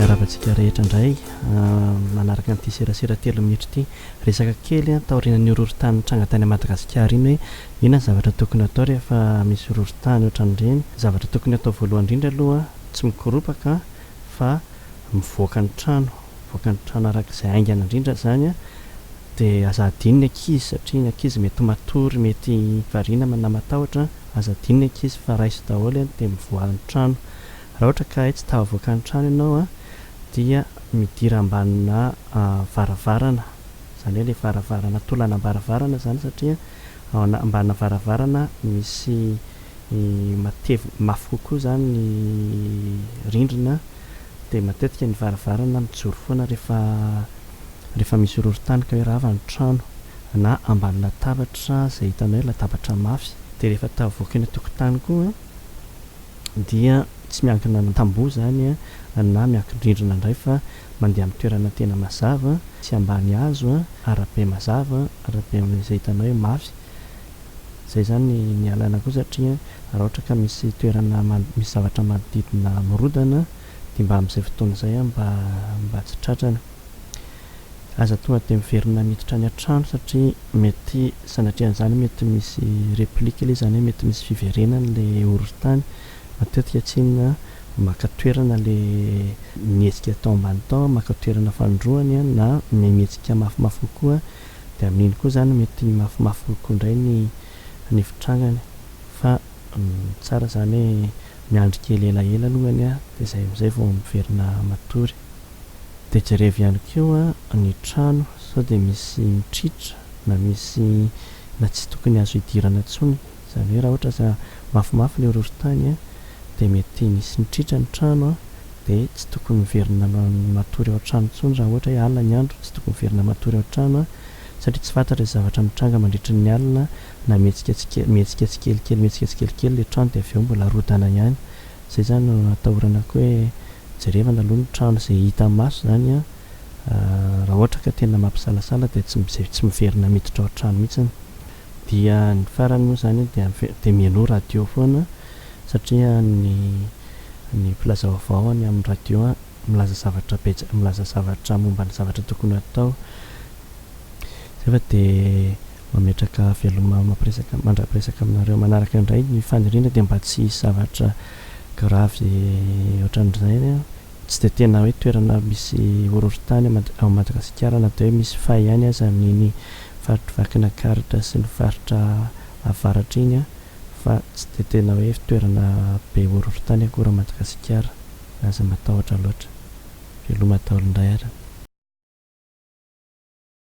Hiaravantsika rehetra indray manaraka an'ity serasera telo minitra ity. Resaka kely taorian'ny horohorontany nitranga tany Madagasikara iny hoe inona ny zavatra tokony atao rehefa misy horohorontany ohatran'ireny. Zavatra tokony atao voalohany indrindra aloha tsy mikoropaka. fa mivoaka ny trano, mivoaka ny trano araka izay haingana indrindra izany an, dia aza adino ny ankizy satria ny ankizy mety matory, mety variana ma na matahotra, aza adino ny ankizy fa raiso daholo an, dia mivoaha ny trano, raha ohatra ka hay tsy tahavoaka ny trano ianao an, dia midira ambanina varavarana, izany hoe ilay varavarana, tolanam-baravarana izany satria. ao ambana varavarana misy matevina mafy kokoa izany ny rindrina dia matetika ny varavarana mijoro foana rehefa rehefa misy horohorontany ka hoe rava ny trano na ambany latabatra izay hitanao hoe latabatra mafy. Dia rehefa tavoaky ny tokotany koa dia tsy miankina amin'ny tamboho izany na miankin-drindrina indray fa mandeha amin'ny toerana tena mazava, tsy ambany hazo, arabe mazava, arabe izay hitanao hoe mafy. Izay izany ny alalako io satria raha ohatra ka misy toerana misy zavatra manodidina mirodana dia mba amin'izay fotoana izay mba tsy tratrany. Aza tonga dia miverina miditra any an-trano satria mety sanatrian'izany mety misy replique ilay izy, izany hoe mety misy fiverenany ilay horohorontany. Matetika tsy inona maka toerana ilay mihetsika tao ambany tao, maka toerana fanindroany na mihetsika mafimafy kokoa dia amin'iny koa izany mety mafimafy kokoa indray ny ny fitrangany. Fa tsara izany hoe miandry kely elaela alongany dia izay amin'izay vao miverina matory. Dia jerevy ihany koa ny trano sao dia misy mitritra na misy na tsy tokony azo hidirana intsony. Izany hoe raha ohatra za mafimafy ilay horohorontany a, dia mety nisy nitritra ny trano a, dia tsy tokony miverina matory ao an-trano intsony raha ohatra hoe alina ny andro, tsy tokony miverina matory ao an-trano a, satria tsy fantatra izay zavatra mitranga mandritry ny alina na mihetsika tsike mihetsika tsikelikely mihetsika tsikelikely ilay trano dia avy eo mbola rodana ihany. Zay zany no atahorana koa hoe jerevana aloha ny trano izay hita maso zany an, raha ohatra ka tena mampisalasala dia tsy mijery tsy miverina miditra ao trano mihitsiny. Dia ny farany moa zany dia dia mialoha radio foana satria ny ny mpilazaovao any amin'ny radio milaza zavatra betsaka milaza zavatra momba ny zavatra tokony atao. Zay fa de mametraka veloma mampiresaka mandra-piresaka aminareo manaraka indray ny faniriana dia mba tsy hisy zavatra gravy ohatran'izany an! Tsy dia tena hoe toerana misy horohorontany ao Madagasikara na dia hoe misy fay ihany aza amin'iny faritry Vakinakaratra sy ny faritra avaratra iny an! fa tsy dia tena hoe toerana be horohorontany akory Madagasikara. Aza matahotra loatra. Veloma daholo indray ary.